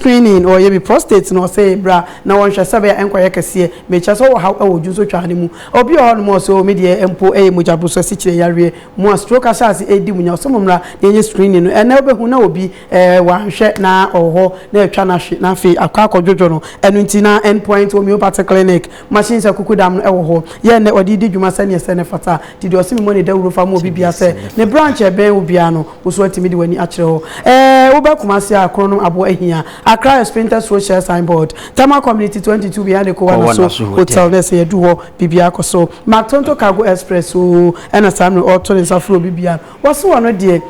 Screening, Wɔyɛ bi prostate na ɔsɛ bra na wɔnhwɛ sɛbɛyɛ a ɛnkɔyɛ kɛseɛ. Mekyerɛ sɛ ɔwɔ haw wɔ dwonsotwaa no mu. Obi wɔ hɔnom a ɔsɛ oo me deɛ mpo ɛyɛ mogyaboro so asikyire yareɛ. Mo a stroke ahyɛ ase ɛredi mo nya ɔsɛ mommra na yɛnyɛ screening no. Ɛnnɛ wobɛhu na obi ɛɛ wanhwɛ na ɔwɔ hɔ na atwa no ahwe na afei akɔ akɔdwodwo no. Ɛno nti na End Point Homeopathy Clinic machines akukudam no ɛwɔ hɔ. Yɛ ɛnnɛ ɔde redi dwuma sɛdeɛ ɛsɛ na ɛfata. Nti deɛ ɔsɛ me mmɔ no dawuro fa ma obi biara sɛ ne branch a ɛbɛn wo biara no Wo nso woatumi de w'ani akyerɛ hɔ. Ɛɛ, wobɛ Kumasi a, korɔnom aboɔ ahia. Accra Esprinter Road hyɛ sign board. Tama Community 22 behind Ekowa Naso Hotel na ɛsɛ yɛadu hɔ, biribiara kɔ so. Mactonto Cargo Express oo, ɛna saa mmerɛ ɔreto ne nsa frɛ obi biara. Wɔse ɔno deɛ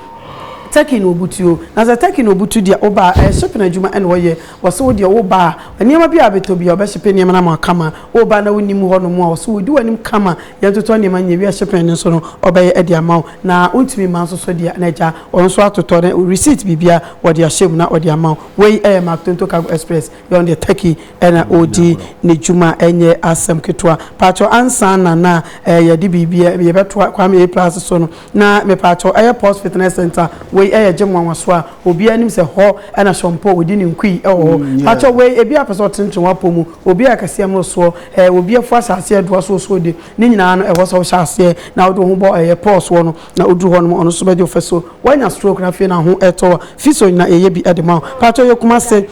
Turkey na ɔbutuo. Na sɛ Turkey na ɔbutu deɛ woba a, ɛyɛ shipping adwuma ɛna ɔyɛ. Wɔse wo deɛ woba a, nneɛma biara a wobɛtɔ biara ɔbɛhyepe nneɛma no ama wo akama. Woba na wonim hɔnom a, wɔse ɔdi w'anim kama. Yɛntotɔ nneɛma nyɛ wie a, shipping no nso no ɔbɛyɛ de ama wo. Na wontumi mma nso so deɛ, na agya, ɔno nso atotɔ ne receipt biribiara wɔde ahyɛ mu na ɔde ama wo. Wei yɛ Mark Tonto Cargo Express, deɛ ɔno deɛ Turkey na ɔredi ne dwuma, ɛnyɛ asɛm ketewa. Mpakyɛw ansa na na yɛde biribi, yɛbɛtoa Kwame A. Plus so no, na mepakyɛw ɛyɛ Pulse Fitness Centre, wei yɛ gye nwanwasoɔ a obiara nim sɛ hɔ na Sean Paul ɔdi ne nkui wɔ hɔ. Mpakyɛw wei, ebi a apɛ sɛ ɔtenetene w'apɔ mu, obi a ɛkɛseɛ mmorosoɔ, obi afu asase a ɛdoa so ɔsoro de, Ne nyinaa no, ɛwɔ sɛ wohyɛ aseɛ na wode wo ho bɔ ɛyɛ pɔɔ soɔ no, na woduru hɔ nom ɔno nso bɛgye wo fasuo. Woanya stroke na afei na ho retɔ wo a, fi so na yɛyɛ bi de ma wo. Mpakyɛw, yɛ Kumase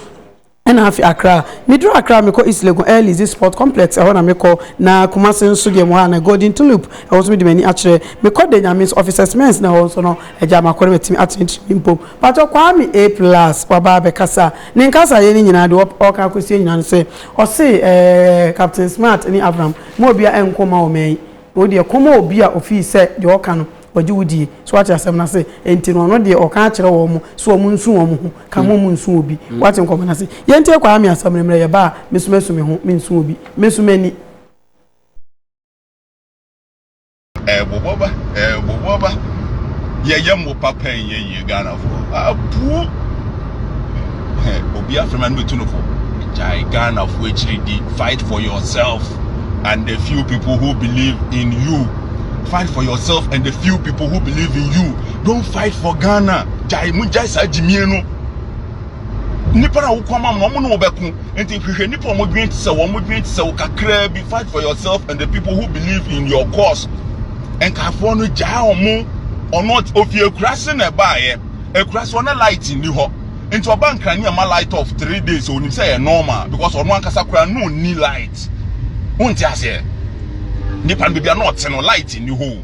ɛna afe Accra. Meduru Accra a, mekɔ East Legon Air Lease Sport Complex, ɛhɔ na mekɔ, na Kumase nso deɛ mewɔ ha no, Golden Tulip, ɛhɔ nso mede m'ani akyerɛ. Mekɔ de, Nyame nso, Officers Men's na ɛhɔ nso no, agyaa makɔ na matumi atene tirinwi mpo. Mpakyɛw, Kwame A Plus waba abɛkasa. Ne nkasaeɛ no nyinaa deɛ ɔreka akɔsie nyinaa ne sɛ, ɔse ɛɛ Captain Smart ne Abraham. Mma obiara ɛnko mma wo mɛn. Na wo deɛ kɔma obi a ofii sɛ deɛ ɔka no ɔgye wo die. So wate asɛm no ase? Enti no ɔno deɛ ɔka akyerɛ wɔn sɛ wɔn nsu wɔn ho ka mo mo nsu obi. Wate nkɔmɔ no ase? Yɛntie Kwame asɛm no mmerɛ yɛba a me nso mɛsu me ho mensu obi. Mɛsu m'ani. Ɛbobɔ ba, ɛbobɔ ba. Yɛyɛ mo papa nyɛ yie Ghanafoɔ. Abuo. Obi afrɛ ma no bɛtu no fo. Gyae Ghanafoɔ akyiri di. Fight for yourself and the few people who believe in you. Fight for yourself and the few people who believe in you. Don't fight for Ghana. Gyae mo gyae saa gyimie no. nnipa na wokɔ ama wɔn na wɔbɛko nti hwehwɛ nnipa wɔn dwen te sɛ wɔn dwen te sɛ wo kakraa bi fight for yourself and the people who believe in your cause nkafoɔ no gyaa wɔn ɔno ofi akurase na ɛbaeɛ akurase hɔ na light nni hɔ nti ɔba nkran ne ɛma light off three days onim sɛ yɛ normal because ɔno ankasa koraa no ni light wonte aseɛ nipa no baabi a na ɔte no light nni hɔ o.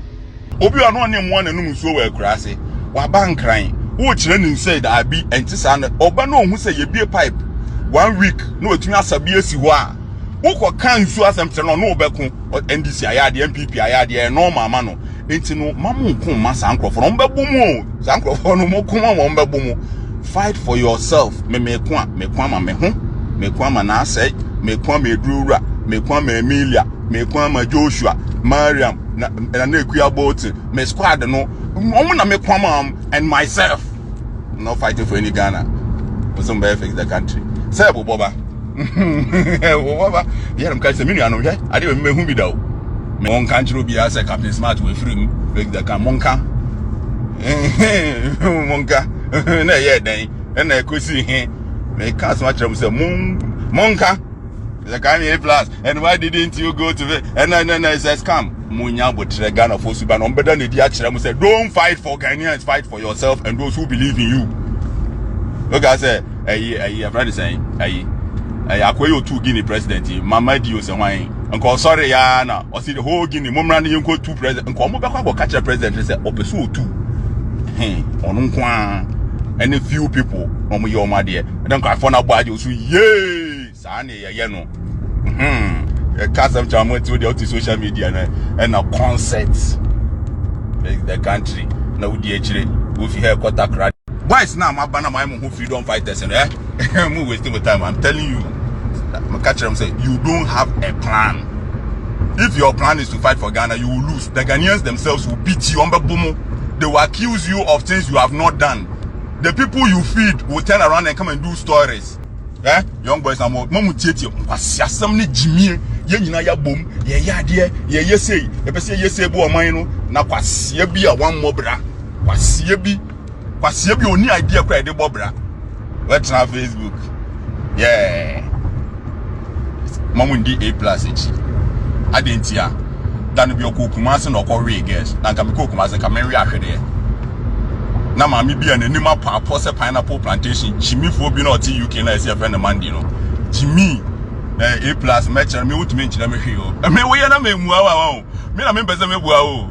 Obi wɔ a na ɔne mmoa na ɛnom nsuo wɔ akuraa ase. Waba nkran. Wokyerɛ ne nsɛ daabi ɛnte saa no. Ɔba na ɔhu sɛ yɛbie pipe one week na watumi asa bi asi hɔ a wokɔ ka nsuo asɛm kyerɛ no ɔne wobɛko. NDC ayɛ adeɛ, NPP ayɛ adeɛ, ɛyɛ normal ma no. Nti no, ma mo nko mma saa nkurɔfoɔ no, wɔbɛbo mu o. Saa nkurɔfoɔ no, mo ko ma wɔn bɛbo mu. Fight for yourself. Me meko a, meko ama me ho, meko ama n'asɛe, meko ama Aduro Wura, meko ama Emilia. meko ama joshua mariam na na na ekuya bolton me squad no wɔn na meko ama wɔn and myself i'm not fighting for any ghana nso mbɛyɛ fix the country sɛ ɛbobɔ ba ɛbobɔ ba yɛrɛ mu ka sɛ me nua no hwɛ adeɛ wɔ mi mɛhu bi da o mɛ wɔn nka nkyerɛ obiara sɛ captain smart wɔ efiri mu fix the country mo nka mo nka na ɛyɛ dɛn ɛna ɛkɔsi he mɛ ka asoma kyerɛ mo sɛ mo mo nka. The kind A plus and why didn't you go to the and then and it's a scam. Munya botre Ghana for suba no mbeda na di akyerɛ mo sɛ don't fight for Ghanaians fight for yourself and those who believe in you. Look I say ɛyi ɛyi ɛfrɛ ne sɛn ɛyi ɛyi akɔyɛ otu Guinea president yi mama di o sɛ hwan yi nka ɔsɔre ya na ɔsi the whole Guinea mo mmra ne yɛn kɔ tu president nka ɔmo bɛkɔ akɔ kakyɛ president sɛ ɔpɛ so otu hɛn ɔno nko ara ɛne few people na ɔmo yɛ ɔmo adeɛ ɛdɛ nka afɔ na abɔ agye So yee saa ne yɛyɛ no hmm yɛka asɛm kyɛ wɔn ti o deɛ ɔte social media na ɛna concert the country na wodi akyire wofi ha ɛkɔ takra. boys na ma ba na ma mo ho freedom fighters no eh mo waste my time i'm telling you mo ka kyerɛ mo sɛ you don't have a plan if your plan is to fight for Ghana you will lose the Ghanaians themselves will beat you on bɛ bomo they will accuse you of things you have not done. the people you feed will turn around and come and do stories eh young boys na mo ma mo tietie nkwasi asɛm ne gyimie yɛn nyinaa yɛabom yɛyɛ adeɛ yɛyɛ sei yɛpɛ sɛ yɛyɛ sei bo ɔman no na kwaseɛ bi a wammɔ bra kwaseɛ bi kwaseɛ bi a ɔni idea kora yɛde bɔ bra wɔatena facebook yeah ma mo ndi a plus akyi adeɛ nti a da no bi ɔkɔ kumase na ɔkɔ wee girls na nka mekɔ kumase nka menwe ahwedeɛ na maame bi a n'anim apaapɔ sɛ pineapple plantation kyimifoɔ bi na ɔte uk na ɛsɛ ɛfɛ no mandi no kyimi na a plus mɛkyerɛ me wotumi nkyerɛ me hwee o me woyɛ na memmua wa wa o me na mempɛ sɛ mebua o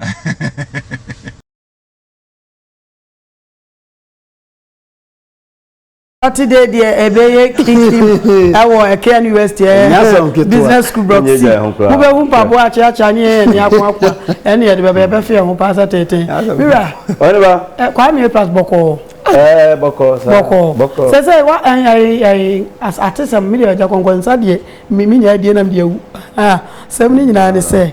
Hehehehe. Saturday deɛ ɛbɛyɛ kingdom ɛwɔ ɛkɛ university ɛɛ business school block c mo bɛ hu mpaboa akyeakyea ne ɛyɛ ne ako akoa ɛne yɛde bɛbɛ yɛbɛ fɛ ho paa sɛ tenten mira ɛ kwaa mi plus bɔkɔɔ ɛɛ bɔkɔɔ sa bɔkɔɔ sɛ sɛ wa ɛn ɛn ɛn ate sɛm mi deɛ ɛgya kɔnkɔn nsa deɛ mi mi nya adie nam deɛ awu ah sɛm ne nyinaa ne sɛ.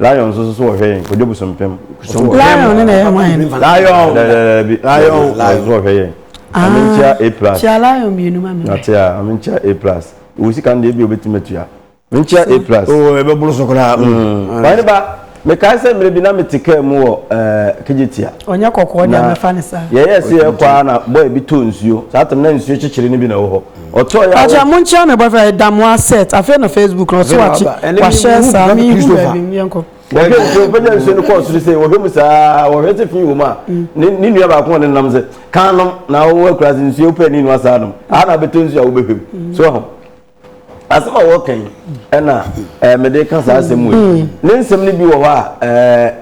Lion nso so wɔ hwɛ yɛn kɔdwa busumpem. Lion ne na ɛyɛ ama yɛn. Lion. Dɛdɛdɛbi lion nso wɔ hwɛ yɛn. Maame nkyia A plus. Kyia lion mmienu ma mi. Nate a maame nkyia A plus. Wɔ sika no deɛ ebi obetumi atua. Maame nkyia A plus. Oo ebe boro so koraa. Wɔn ne ba mekae sɛ mmerɛ bi na mete kaa mu wɔ ɛɛ kegyetia. Ɔnyɛ kɔkɔɔ deɛ mɛfa ne saa. Yɛyɛ se yɛkɔ a na bɔyɛ bi tɔ nsuo saa tam na nsuo kyekyere no bi na ɛwɔ hɔ. Akyɛ monkyea me boyfriend yɛ Damoah Seth afei na Facebook no ɔse wakye wahyɛ saa me hu baabi no yɛnkɔ. Wɔhwɛ nsuo pagya nsuo no kɔɔ soro sɛ wɔhwɛ mu saa wɔhwɛ sɛ fi wɔ mu a ne ne nua baako ɔne nam sɛ kan nom na wɔwɔ akura sɛ nsuo pɛ ne nua saa nom aha na abɛtɔ nsuo a wobɛhwɛ mu so ho asɛm a wɔka yi ɛna ɛɛ mede ka saa asɛm wɔ ne nsɛm no bi wɔ hɔ a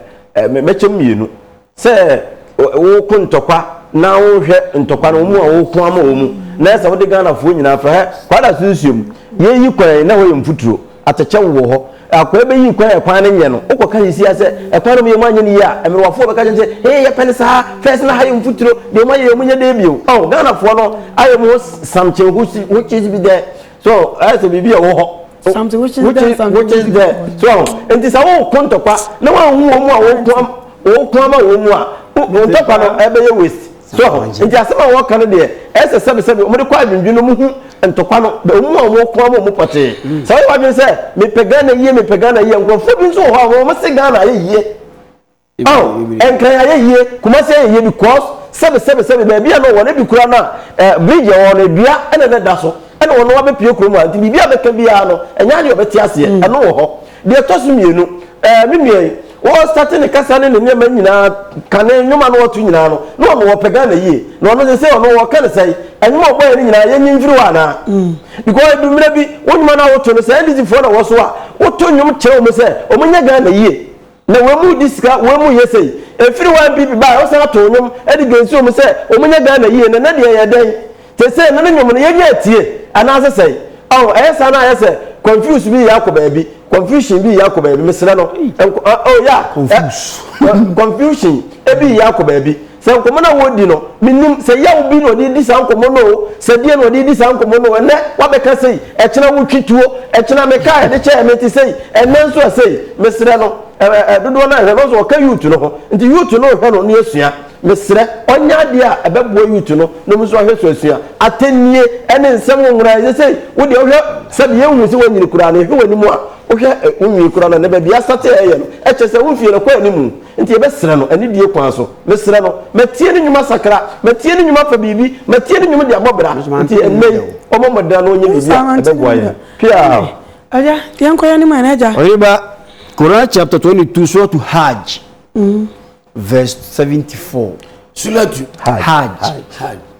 ɛɛ mɛkyɛm mmienu. Sɛ woko ntɔkwa na wonhwɛ ntɔkwa no wɔn a woko ama wɔn mu na ɛsɛ wode Ghanafoɔ nyinaa afra hɛ kwaa da so nsuom yɛyi kwan yi na ɛhɔ yɛ mfuturo atɛkyɛ wo wɔ hɔ akwaa bɛyi kwan a kwan no nyɛ no wokɔ ka sesia sɛ ɛkwan no meyɛ mu anyɛ no yie a ɛmerewafoɔ bɛka kyɛn sɛ hee yɛpɛ no saa fɛs na ha yɛ mfuturo deɛ ɔma yɛ yɛ mu nyɛ dɛ bio oh Ghanafoɔ no ayɛ mu ho samkyɛ ho kyesi bi dɛ so ɛyɛ sɛ biribi a ɛwɔ hɔ something which is which there is, something which is there so nti sɛ wokɔ ntɔkwa na woanhu wɔn mu a wɔko ama wɔn mu a ntɔkwa no ɛbɛyɛ waste so nti asɛm a wɔka no deɛ ɛsɛ sɛbesɛbe wɔde kɔ adwendwen no mu hu ntɔkwa no wɔn mu a wɔko ama wɔn pɔtee mm. sɛ wɔyɛ wadwene sɛ mepɛ ghana yie mepɛ ghana yie nkurɔfoɔ bi nso wɔ hɔ a wɔn se ghana ayɛ yie Aw nkran ayɛ yie kumasi ayɛ yie because sɛbi sɛbi sɛbi baabi a na ɔwɔ no ebi koraa na eh bridge a ɛwɔ hɔ no dua ɛna na ɛda so ɛna ɔno abɛ pue kurom ha nti biribi a bɛka biara no ɛnyɛ adeɛ ɔbɛ te aseɛ ɛno wɔ hɔ deɛ ɛtɔ so mmienu eh me nua yi wɔ starte ne kasa ne ne nneɛma nyinaa ka ne nnwoma no ɔto nyinaa no na ɔno ɔpɛ Ghana yie na ɔno sɛ sɛ ɔno wɔka ne sɛe ɛnwoma ɔbɔ yɛ no nyinaa yɛnyi mfiri hɔ anaa because edu mmerɛ bi wo nnwoma no a woto no sɛ NDC foɔ na wɔ so a woto nnwom kyerɛ wɔn sɛ wɔn nyɛ Ghana yie Na wɔn mu di sika wɔn mu yɛ sei. Ɛfiri YPP baeɛ ɔsan atoo nnwom de dwensi wɔn sɛ wɔn nyɛ Ghana yie na na deɛ yɛ dɛn? Te sɛ na ne nnwom no yɛnya atie anaasɛ sɛn? Ɔho ɛyɛ saa na ayɛ sɛ confuse bi reyɛ akɔ baabi confusion bi reyɛ akɔ baabi mesrɛ no nko oh yeah eh, confuse confusion bi reyɛ akɔ baabi Sɛ nkɔmmɔ no a wɔredi no, mennim sɛ yaw bi na ɔde redi saa nkɔmmɔ no oo, sɛ deɛn na ɔde redi saa nkɔmmɔ no oo, ɛnnɛ woabɛka sei, ɛkyena wotwi tuo, ɛkyena me kaa a yɛde kyɛɛ me te sei, ɛnnɛ nso ɛ sei. Mesrɛ no, ɛ ɛ dodoɔ no ara nhwɛ no, ɔsɛ ɔka youth no ho, nti youth no nhwɛ no na yɛasua. Mesrɛ ɔnyɛ adeɛ a ɛbɛboa youth no na wɔn nso ahwɛ so asua. Atɛnnie ne nsɛm nwonwa, ɛsɛ sei, wo deɛ wohwɛ sɛdeɛ yɛnhu sɛ woanyini koraa no, yɛhwɛ w'anim a, wohwɛ ɛ wo nwi koraa no, ɛnnɛ baabi a asate a ɛyɛ no, ɛkyerɛ sɛ wo mfie no kɔ anim. Nti yɛbɛsrɛ no anidie kwan so. Mesrɛ no, matie ne nnwuma sakra, matie ne nnwuma fa biribi, matie ne nnwom de abɔ bra. Nti ɛnnɛ yi, ɔmmɔ mmɔden na ɔnyɛ biribi a ɛbɛboa yɛn. Piaa. Agya, yɛnkɔ yɛn anim ɛ, agya. Ɔyere ba, Quran chapter twenty two, Suratu Hajj, verse seventy four. Suratu Hajj.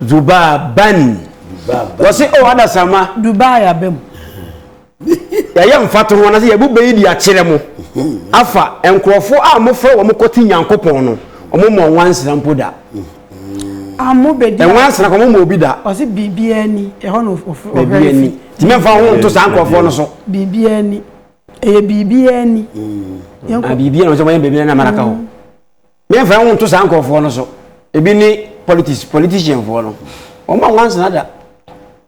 Dubaa ban. Wɔsi o adasama. Dubaa yaba mu. Yɛyɛ mfatoho anase yɛbu bɛyi di akyerɛ mo afa nkurɔfo a mofrɛ wɔn kɔte Nyankopɔn no wɔn mɔ nwansena mpo da. Amo bedi. Nwansena kɔn mo mɔ obi da. Ɔsi biribi ani ɛhɔ na ɔhwɛ efi. Tìmɛ nfa ho nto saa nkurɔfoɔ no so. Biribi ani ɛyɛ biribi ani. Biribi ani wɔn sɛ wɔn yɛ biribi ani na mara ka ho. Yɛmfa yɛn ho nto saa nkurɔfoɔ no so. Ebi ne politics, politicianfoɔ no. Wɔn a nwansena da.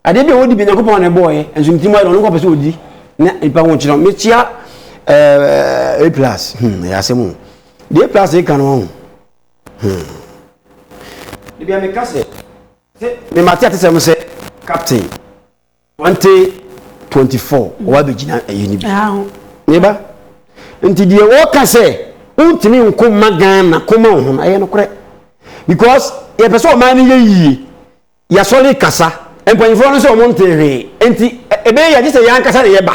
Adeɛ bi a wɔdi bi Nyankopɔn na ɛbɔɔyɛ, nso ne tirim ayɛ na ɔno nko pɛ sɛ ɔdi na nipa ho kyerɛ. Mekyia ɛɛ A plus, hmm, ɛyɛ asɛm o. Deɛ A plus reka no ɔho. Hmm. Debi a meka sɛ, sɛ mema te atesɛm sɛ captain. 2024 ɔwa bɛgyina ɛyɛ no bi ne ba nti deɛ wɔka sɛ wontumi nko ma ghana koma wo ho no ɛyɛ nokorɛ because yɛpɛ sɛ ɔman no yɛ yie yɛasɔre kasa mpanyinfoɔ no sɛ ɔmo ntee hwee nti ɛbɛyɛ yɛgye sɛ yɛn ankasa na yɛba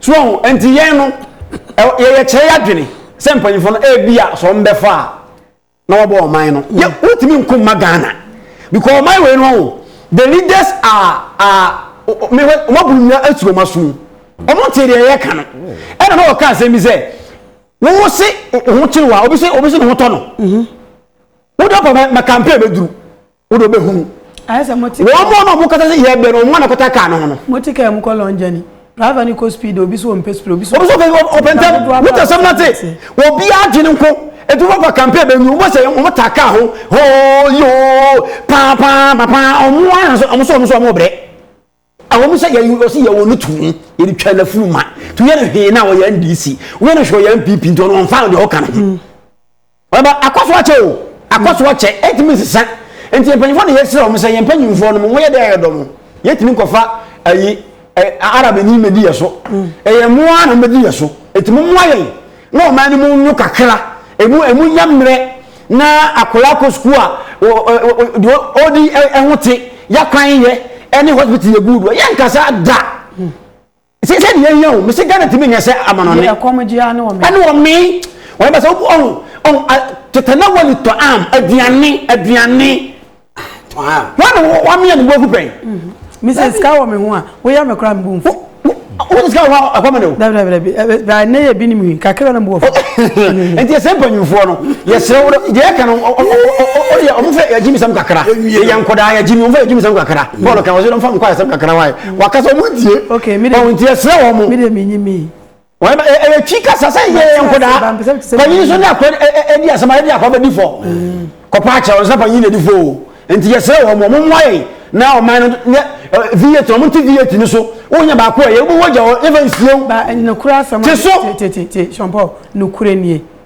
So ɔho nti yɛn no yɛyɛ kyerɛ yɛ adwene sɛ mpanyinfo no ebi a sɛ wɔn bɛfa a na wɔbɔ ɔman no mm. yɛ wotumi nko mma ghana because ɔman wei no ho the leaders are are mehwɛ wɔn aburu nyina etu wɔn aso wɔn te deɛ yɛ ka no ɛna na wɔka asɛm bi sɛ wɔn se ho kyerɛ wa obi se obi se ne ho tɔ no mm-hmm. wodɔ pɔ mɛ mɛ campaign bɛ duru. wo de wobɛhu mu wɔn mu na wɔkasa sɛ yɛ bɛn wɔn na kɔta kaa no ho no. mo ti kaa mu kɔ long journey driver ni kɔ speed obi so ɔmpɛ speed obi so ɔmpɛ speed ɔpɛ ntɛm wotɛ sɛm na te obi adwene nko etu fafa campaign bɛ nyu wɔn sɛ wɔn ta kaa ho hoo yoo paa paa paa wɔn ara sɛ wɔn so wɔn so wɔn brɛ. Ɛwɔ mu sɛ yɛn ɔsi yɛ wɔn no tum yɛ de twɛn n'afuru ma tu yɛ no hwee na ɔyɛ NDC wɔyɛ no hwɛ ɔyɛ NPP nti ɔno ɔnfa deɛ ɔka no ho. Ɔba akɔso akyɛ o akɔso akyɛ ɛtumi nsesa nti mpanyinfoɔ na yɛsrɛ wɔn sɛ yɛn mpanyinfoɔ no mo yɛ dɛ ɛyɛ dɔ mo yɛtumi nkɔfa ayi arabi ni medi yɛ so ɛyɛ mmoa na medi yɛ so ɛtumi mmoa yɛn na ɔman no mu nyo kakra ɛmu ɛmu nya mmerɛ. na akwadaa kɔ sukuu a deɛ ɔdi ho te yakwan yɛ ɛne hospital yɛ guudu yɛ nkasa da sɛ sɛ deɛ yɛhia o mesɛ ghana tumi nyɛ sɛ amanɔne ɛne ɔme wɔyɛ bɛ sɛ ɔhu tetana wɔ ne tɔ am aduane aduane wọn na wọn mi yɛ nubu egu pɛn. mi sɛ sika wɔ mi ho a o yɛ mi kura mi bu nfu. o ti sika wɔ hɔ ɛkɔ mi ni o. dabi dabi dabi ɛbɛ baa ne yɛ bi ni mi wi kakra na mu wɔ fɔ. nti ɛsɛ mpanyinfoɔ no yɛ sɛ wɔn deɛ yɛ kan o yɛ wɔn fɛ yɛ jimi sɛm kakra yɛ nkɔdaa yɛ jimi wɔn fɛ yɛ jimi sɛm kakra bɔɔlu kan wɔn sɛ wɔn fɔ mi kɔ ayɛ sɛm kakra wa yɛ wakasa wɔn tie. ok mi de mi nti ɛsɛ wɔn. mi de mi nyi mi. ɛyɛ twi kasa sɛ yɛ yɛ nkodaa panyin nso ne akora ɛdi asɛm a ɛdi akora bɛdi fɔ kɔpa akyɛ wɔn sɛ panyin na ɛdi fɔ o nti yɛsrɛ wɔn wɔn mmoa yɛn na ɔman no nyɛ v8 wɔn ti v8 no so wɔn nyɛ baako a yɛ wɔn wɔ gya wɔn yɛ fɛ nsuo te so.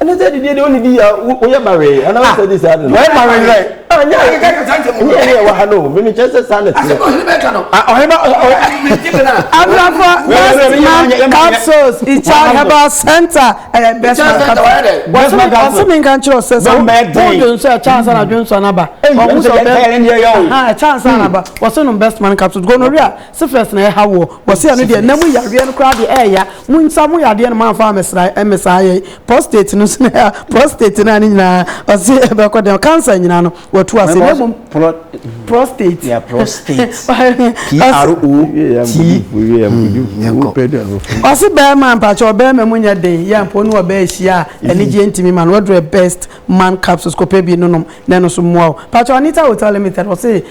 ɛne sɛ didie deɛ wone di yɛ woyɛ bawee anaa wosɛ di saa no wayɛ bawee dɛ anyɛ ɛne ɛwɔ ha no meme kyɛ sɛ saa na teɛ ɔhema abrafo bestman capsules icha herbal center ɛyɛ bestman capsules ɔse menka nkyerɛ sɛ sɛ wode nso ɛkyɛ ansa na adwensɔ no aba ɔmo sɛ ɛkyɛ ansa na aba wɔse nom bestman capsules gonorrhea Syphilis na ɛha woɔ? Wɔse ɛno deɛ nam mu yareɛ no koraa deɛ ɛɛya mo nsa mo yadeɛ no mo amfa amɛsra ɛmmesaa yɛn prostate no nso na ɛha prostate no a ne nyinaa ɔse ɛbɛkɔ dɛn cancer nyinaa no watu ase na mmom prostate yeah prostate ɔse bɛɛma mpakyɛ ɔbɛɛma mu nyɛ den yɛ mpo ne ɔbɛɛ hyia a anigyeɛ ntimi ma no wadurɛ best man capsules kɔpɛ bi nonom na ɛno so mmoa wo mpakyɛ Anita will tell me that ɔse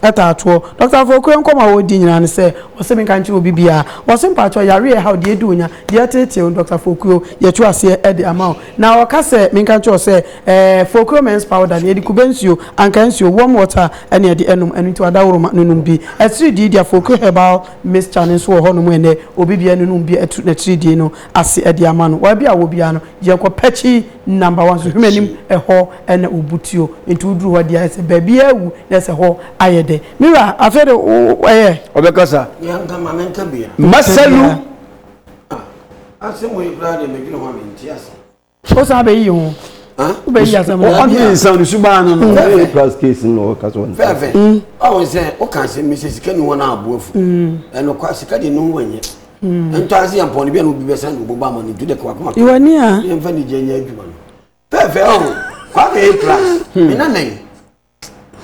taa toɔ. Doctor Afoakura nkɔmmɔ a wɔredi nyinaa ne sɛ, ɔse menka nkyerɛ obi biara. Wɔse mpakyɛw yare a ɛhaw deɛ adi onya, deɛ ɛteetee wo, Doctor Afokuo, yɛto aseɛ de ama wo. Na ɔka sɛ menka nkyerɛ wo sɛ, eh, Fokuo Men's Powder no, yɛde kube nsuo, ankaa nsuo, warm water na ɛde ɛnom, ɛno nti ɔdaworoma no nom bi. Atiridii deɛ Afokuo Herbal Mixture no nso wɔ hɔ nom ɛnnɛ, obi biara no nom bi ɛto n'atiridii no ase de ama no. Baabi a ɔwɔ biara no, yɛnkɔ pɛkyii. number one so hwɛ m'anim ɛhɔ ɛna obu tuo nti woduru hɔ deɛ ɛsɛ baabi awu na ɛsɛ hɔ ayɛ dɛ mira afei de ɛyɛ ɔbɛkasa masalu wosan bɛyi ho wobɛyi asɛm ɔne nsa no subaa no no ɛyɛ plus case no ɔka so fɛfɛ ɔwo sɛ woka sɛ mesɛ sika ni hɔ no aboafu ɛnokwa sika de no ho anyɛ hmm. ntɔa se yɛ mpɔn no bi a na obi bɛsan de ɔbɔbɔ ama no ntu de kɔ akoma iwɔ ni a yɛmfa ne gye nyɛ adwuma no pɛɛfɛ ɔho kwame yɛ class hmm. me nana yi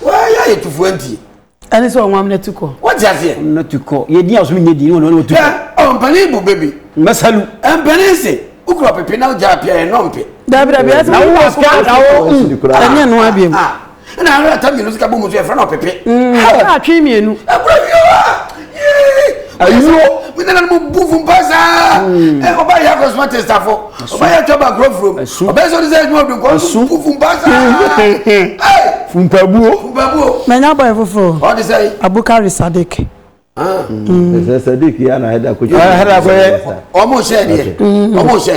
wɔyɛ ayɛ tufoɔ nti ɛne sɛ ɔmo amena tu kɔ wɔte aseɛ amena tu kɔ yɛdi a ɔsom nyɛ di ne wɔn wɔn tu kɔ ɔmpanin bu bebi mɛsalu mpanin se wokura pepe na wogya apia yɛ nɔmpe dabi dabi ɛsɛ mo wɔ sukuu ɛnyɛ no abiem ɛna ara ata mmienu sika bɔ mu nso yɛfrɛ no ɔpepe ɛna atwe mmienu ɛkura fi hɔ a ayuo mi nana no mu bu fun pa saa ɛ ɔba yɛ akɔ suma tɛ sitafo ɔba yɛ atwa ba kuro furo mu ɔba yɛ sɔ ne sɛ ɛdwuma dun kɔ ɔso bu fun pa saa ɛ funpabuo funpabuo mɛ nya bɔ yɛ foforɔ ɔde sɛ abukari sadik. ɛsɛ sadiq yɛ na ɛda kɔtwa ɛda kɔyɛ ɔmo sɛ deɛ ɔmo sɛ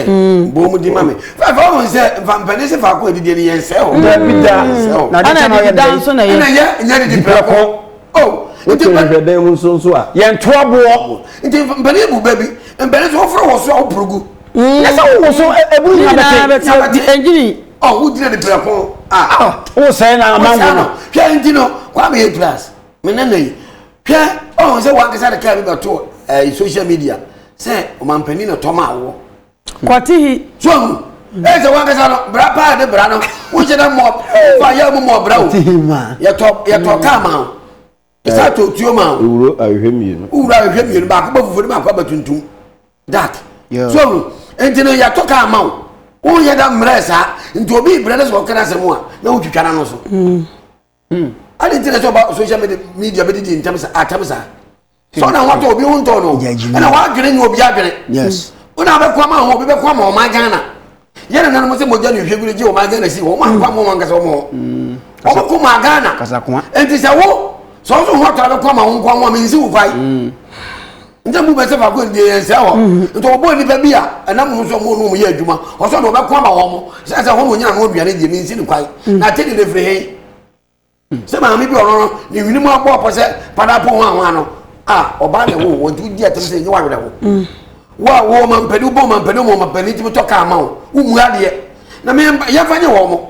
bɔ ɔmo di ma mi fɛfɛ ɔmo sɛ nfampɛni sɛ faako edidi ni yɛn sɛ o dabi da ɛna ɛdi da nso na yɛ ɛna yɛ nyɛ ɛdi pɛrɛ kɔ o nti mpɛrɛ dan mu nso nso a yɛn to aboɔ nti mpɛrɛ ebu bɛbi mpɛrɛ nso ɔfrɛ wɔ so a ɔpurugu ɛsɛ ɔwɔ so eburu nyina bɛtɛ nyina bɛtɛ ɛnjini ɔ wò gyina ɛdi pɛrɛ kɔ a wò sɛ na amango no hwɛ ɛnti no wà á bɛ yɛ glass mɛ nana yi. hwɛ ɔhun sɛ wankasa de kaa bi bɛto ɛɛ social media sɛ ɔmampanin na tɔm awoɔ. kɔte hi. so ɔhun ɛyɛ sɛ wankasa no bra paa de bra no wohyɛ dɛ mɔ fa yɛ mu mɔ bra o yɛtɔ yɛtɔ kaa ma o ɛsɛ atɔ tuo ma o. ewuro ahwehwɛ mmienu. ewuro ahwehwɛ mmienu baako bɛ fufuo ne baako abɛ tuntum dark so ɔhun nti no yɛtɔ kaa ma o woyɛ dɛ mmerɛ saa nti obi brɛ ne sɛ ɔkɛra asɛm a na wotwitwa n'ano so. Mm. hmm. adi nti na sɛ ɔba social media media bɛ didi ntɛm sa atɛm sa sɛ ɔna ho atɔ obi ho ntɔ no ɛna wadwene nyɛ obi adwene ɔna abɛko ama ho obi bɛko ama ɔman ghana yɛ na nanom sɛ mogya ne hwɛ gure gye ɔman ghana si wɔn ankɔ ama wɔn ankasa wɔn hɔ wɔn ko ma ghana nti sɛ wo sɛ ɔso ho atɔ abɛko ama ho nko ama mi nsi wo fae. nti mu bɛsɛ faako ɛdi yɛn nsɛ hɔ nti ɔbɔ nnipa bi a ɛnam mu nso ɔmo nom yɛ adwuma ɔsɔ na ɔbɛko ama wɔn sɛ sɛ wɔn nyina no aduane deɛ mensi ne kwan na ate de de firi he sɛ maame bi ɔno no ne nwene mu abɔ ɔpɔ sɛ pada po ho ahoa no a ɔbaa na ɛwɔ wɔn nti wodi atam sɛ ɛnyɛ wawerɛ ho wo a wɔ ɔma mpani wobɔ ɔma mpani ɔma ɔma mpani tumi tɔ kaa ma wo womu adeɛ na yɛmfa nyɛ wɔn mo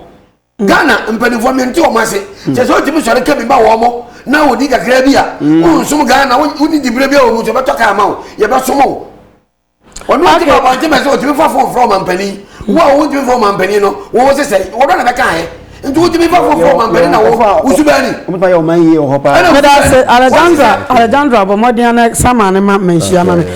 Ghana mpanimfoɔ mente wɔn ase. Hmm. Kyɛ sɛ wotumi sɔre ka bi ma wɔn mo na wɔdi kakra bi a hmm. wonsom Ghana wonni diberɛ bi a wɔ mu sɛ bɛtɔ kaa ma wo yɛbɛsom wo. Ɔno ɔtumi abɔnten bɛ sɛ ɔtumi fa fon frɛ ɔmampanin wo a wontumi frɛ ɔmampanin no wɔwɔ sɛ sɛ wɔdɔ na bɛka ayɛ nti wotumi fa fon frɛ ɔmampanin na wo wosu bɛani. Wotumi yɛ ɔman yie wɔ hɔ paa. Meda ase Alexandra Alexandra bɔ mmɔden na sama ne ma manhyia ma me.